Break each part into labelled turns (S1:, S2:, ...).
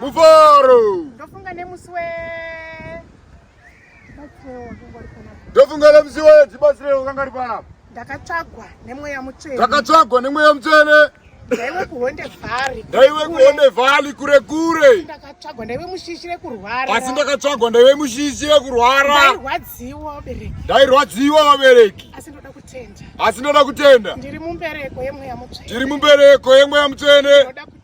S1: Mufaro. Ndofunga
S2: nemusi we
S1: ndofunga nemusi we tibatsire ukanga ripanapa ndakatsvagwa
S2: nemweya mutsvene ndakatsvagwa nemweya
S1: mutsvene ndaiwe kuhonde
S2: vhari ndaiwe kuhonde
S1: vhari kure kure ndakatsvagwa ndaiwe
S2: mushishi rekurwara asi ndakatsvagwa ndaiwe
S1: mushishi rekurwara ndairwadziwa
S2: vabereki ndairwadziwa
S1: vabereki asi ndoda kutenda
S2: asi ndoda kutenda
S1: ndiri mumbereko
S2: yemweya mutsvene ndiri mumbereko
S1: yemweya mutsvene ndoda kutenda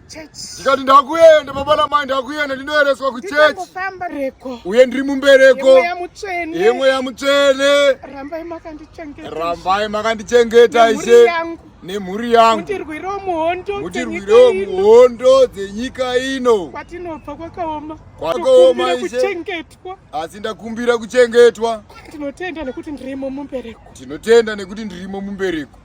S2: ndikati ndakuenda
S1: baba namai ndakuenda ndinoereswa kuchechi
S2: uye ndiri mumbereko yemweya mutsvene rambai
S1: makandichengeta ishe nemhuri yangu
S2: mutirwirewo
S1: muhondo dzenyika ino kwatinobva kwakaoma
S2: kwakaoma
S1: kuchengetwa asi
S2: ndakumbira
S1: kuchengetwa tinotenda nekuti
S2: ndirimo mumbereko tinotenda nekuti
S1: ndirimo mumbereko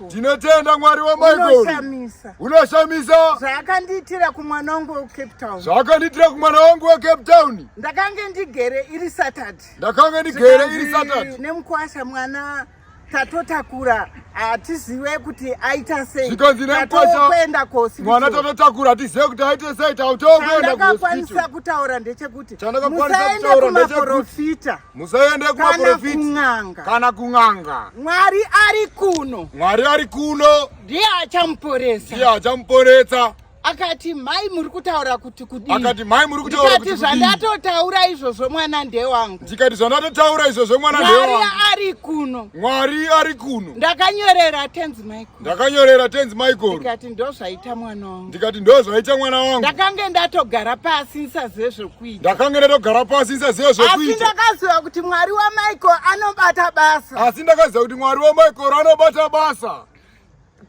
S1: Tinotenda Mwari wa Michael.
S2: Unoshamisa.
S1: Zvaakandiitira
S2: kumwana wangu wa Cape Town. Zvaakandiitira kumwana
S1: wangu wa Cape Town. Ndakange ndigere
S2: iri Saturday. Ndakange ndigere
S1: iri Saturday. Nemukwasha mwana
S2: tatotakura hatizive kuti aita sei zvikanzi nemkoshakuenda
S1: kosimwana tatotakura hatizive kuti aita sei tautokuenda kwanisa
S2: kutaura ndechekuti musaende kumaprofita musaende
S1: kumaprofita kana kun'anga mwari ari
S2: kuno mwari ari kuno
S1: ndiye achamuporesa
S2: ndiye achamuporesa
S1: akati mai
S2: muri kutaura kuti kudii akati mai muri kutaura kuti ndikati
S1: zvandatotaura
S2: izvozvo mwana ndewangu ndikati zvandatotaura
S1: izvozvo mwana ndewangu mwari ari kuno
S2: mwari ari
S1: kuno ndakanyorera tenzi
S2: michael ndakanyorera tenzi
S1: michael ndikati ndozvaita
S2: mwana wangu ndikati ndozvaita mwana
S1: wangu ndakange ndatogara
S2: pasi ndisazive zvekuita ndakange ndatogara pasi
S1: ndisazive zvekuita asi ndakaziva kuti mwari
S2: wamichael anobata basa asi ndakaziva kuti mwari
S1: wamichael anobata basa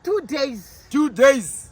S1: two
S2: days two days